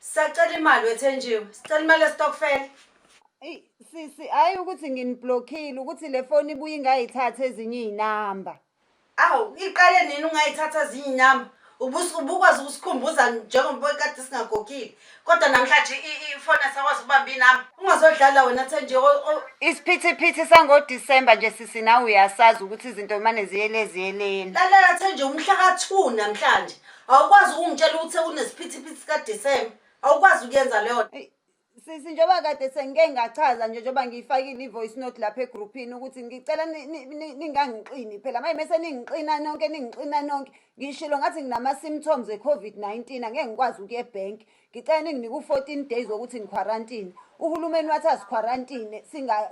Sacela imali wethenjiwe. Sicela imali yestokfela. Eyi sisi hayi ukuthi nginiblockile ukuthi le foni ibuye ingayithatha ezinye izinamba. Awu, iqale nini ungayithatha ezinye inyama? Ubus- Ubukwazi ukusikhumbuza njengoba kade singagogile. Kodwa namhlanje i- i- ifoni asakwazi ukubamba inami. Ungazodlala wena Thenji. o- o- Isiphithiphithi sangoDisemba nje sisi nawe uyasazi ukuthi izinto mane ziyele ziyeleni. Lalela Thenji umhla ka-2 namhlanje. Awukwazi ukungitshela ukuthi sekunesiphithiphithi sikaDisemba. Awukwazi ukuyenza leyo nto. Eyi, Sisi njengoba kade sengike ngachaza nje njengoba ngiyifakile i-voice note lapha egruphini ukuthi ngicela ni- ni- ni- ningangiqini phela manje mese ningiqina nonke ningixina nonke ngishilo ngathi nginama-symptoms e-covid-19 angeke ngikwazi ukuya ebhenki ngicela ninginike u-14 days wokuthi ngiquarantine uhulumeni wathi asiquarantine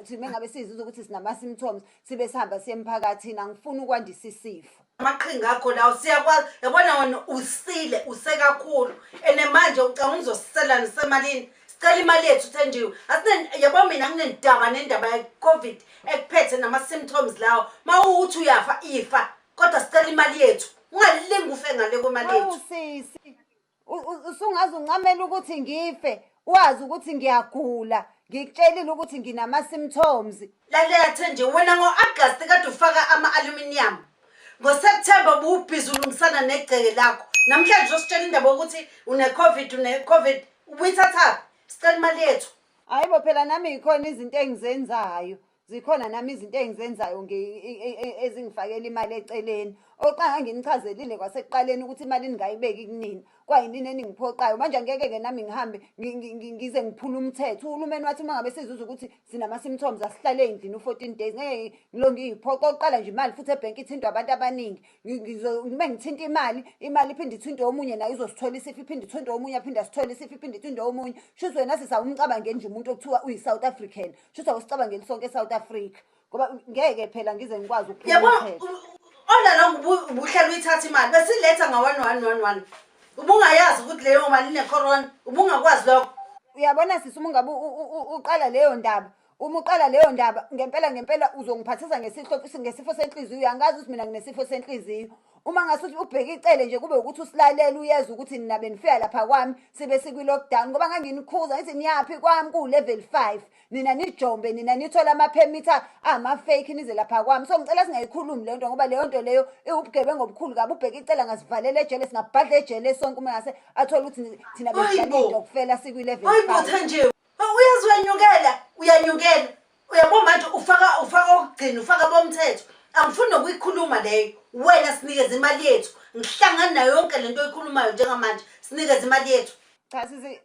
sime ngabe siziza ukuthi sinama-symptoms sibe sihamba siye emphakathini angifuni ukwandisa isifo amaqhinga akho lawo siyakwazi yabona wena usile usekakhulu and manje ucanga uzosiselani semalini sicela imali yethu thenjiwe yabo mina nginendaba nendaba ye-covid ekuphethe nama-symptoms lawo ma uwukuthi uyafa ifa kodwa sicela imali yethu ungalingi ufe ngale kwemali yethu usungaze uncamele ukuthi ngife wazi ukuthi ngiyagula ngikutshelile ukuthi nginama-symptoms lalela thenje wena ngo-agasti kade ufaka ama-aluminium ngoseptemba ubuwubhizi ulungisana negceke lakho namhlanje uzositshela indaba yokuthi une-covid une-covid ubuyithathaphi sicela imali yethu hhayi bo phela nami yikhona izinto engizenzayo Zikhona nami izinto engizenzayo ngi- i- i- i- ezingifakela imali eceleni. Oqanga nginichazelile kwasekuqaleni ukuthi imali ningayibeki kunina. Kwayinini eningiphoqayo. Manje angeke-ke nami ngihambe ngi- ngi- ngi- ngize ngiphule umthetho. Uhulumeni wathi uma ngabe sizuza ukuthi sinama-symptoms asihlale endlini u-14 days. Ngeke ngilo ngiyiphoqa okokuqala nje imali futhi ebhenki ithintwa abantu abaningi. Ngi- ngizo- Uma ngithinta imali, imali iphinde ithintwe omunye naye uzosithola isifo, iphinde ithintwe omunye aphinde asithole isifo, iphinde ithintwe omunye. Shuthi wena sisawumcabangeni nje umuntu okuthiwa uyi-South African. shuthi awusicabangeli sonke esouth africa ngoba ngeke phela ngize ngikwazi ona lo ubuhlala uyithatha imali besiletha nga-one one one one ubungayazi ukuthi leyo mali inecorona ubungakwazi lokho uyabona sisi uma ungabe uqala leyo ndaba uma uqala leyo ndaba ngempela ngempela uzongiphathisa ngesifo senhliziyo angazi ukuthi mina nginesifo senhliziyo Uma ngase uthi ubheke icele nje kube ukuthi usilalela uyeza ukuthi nina benifika lapha kwami sibe sikwi-lockdown ngoba nganginikhuza ngithi niyaphi kwami kuwu-level five nina nijombe nina nithole amaphemithi ama-fake nize lapha kwami so ngicela singayikhulumi le nto ngoba leyo nto leyo iwubugebengu obukhulu kabi ubheke icela ngasivalela ejele singabhadla ejele sonke uma ngase athole ukuthi ni- thina Hayibo. besidlalidokufela sikwi-level Hayi five botha nje. Hawu, Uyazi uyanyukela, uyanyukela. Uyabo manje ufaka ufaka okugcina ufaka bomthetho angifuni nokuyikhuluma leyo wena sinikeze imali yethu ngihlangani nayo yonke lento oyikhulumayo njengamanje sinikeze imali yethu Cha sisi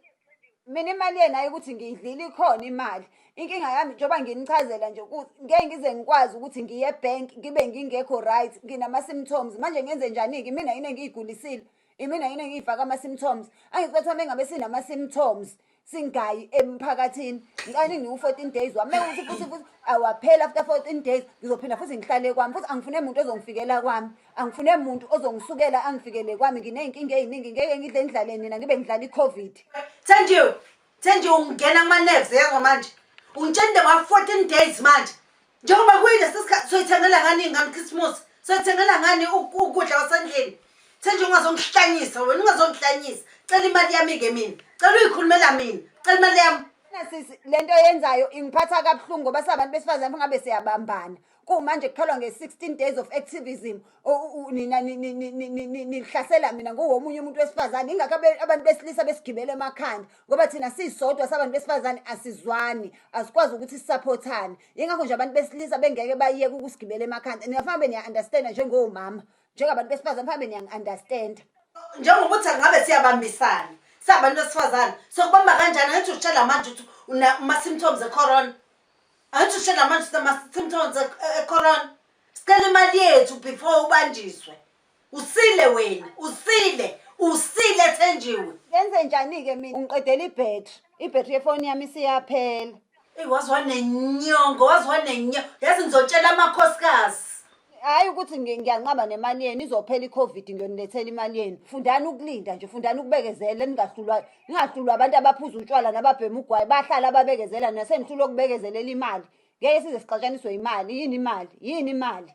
mina imali yena hayi ukuthi ngiyidlile ikhona imali. Inkinga yami njengoba nginichazela nje ukuthi ngeke ngize ngikwazi ukuthi ngiye ebank ngibe ngingekho right, nginama symptoms. Manje ngenze njani-ke imina yini engiyigulisile? Imina yini engiyifaka ama symptoms. Angithi kwathiwa mengabe sinama symptoms singayi emphakathini. Ngicela ningiwu 14 days wami. Mewuthi futhi futhi awaphela after 14 days ngizophinda futhi ngihlale kwami. Futhi angifune muntu ozongifikela kwami. Angifune muntu ozongisukela angifikele kwami. Ngineyinkinga eziningi ngeke ngidle ngidlale nina ngibe ngidlala iCovid. Thenjiwe, Thenjiwe ungena kuma nerves yezwa manje. Ungitshela into ngwa 14 days manje. njengoba kuyilesi sikhathi soyithengela ngani iy'ngane ukhisimusi soyithengela ngani ukudla kwasendlini senje ungazongihlanyisa wena ungazongihlanyisa cela imali yami-ke mina cela uyikhulumela mina cela imali yami sisi le nto yenzayo ingiphatha kabuhlungu ngoba sabantu besifazane ngabe siyabambana kumanje kutholwa nge-16 days of activism nina nihlasela mina nguwomunye umuntu wesifazane ingakho abantu besilisa besigibele emakhanda ngoba thina sisodwa sabantu besifazane asizwani asikwazi ukuthi sisaphothane yingakho nje abantu besilisa bengeke bayeke ukusigibela emakhanda niyafanbe niya-understanda njengowumama njengabantu besifazane fanbe niyangi-understanda njengoba uthi angabe siyabambisana sabantu besifazane sokubamba kanjani angithi usitshela manje ukuthi unama-symptoms ecorona angithi usitshela manje ukuthi unama-symptoms ecorona sicela imali yethu before ubanjiswe Usile wena, usile, usile Thenjiwe. Yenze njani ke mina? Ungiqedela ibattery. Ibattery yefoni yami isiyaphela. Ey waze wanenyongo, waze wanenyongo. Yazi ngizotshela amakhosikazi. Hayi ukuthi ngi- ngiyanqaba nemali yenu izophela iCovid ngiyonilethela imali yenu. Fundani ukulinda nje, fundani ukubekezela ningahlulwa ningahlulwa abantu abaphuza utshwala nababhema ugwayi bahlala ababekezela nina senihlulwa ukubekezelela imali. Ngeke size sixatshaniswe imali, yini imali? Yini imali?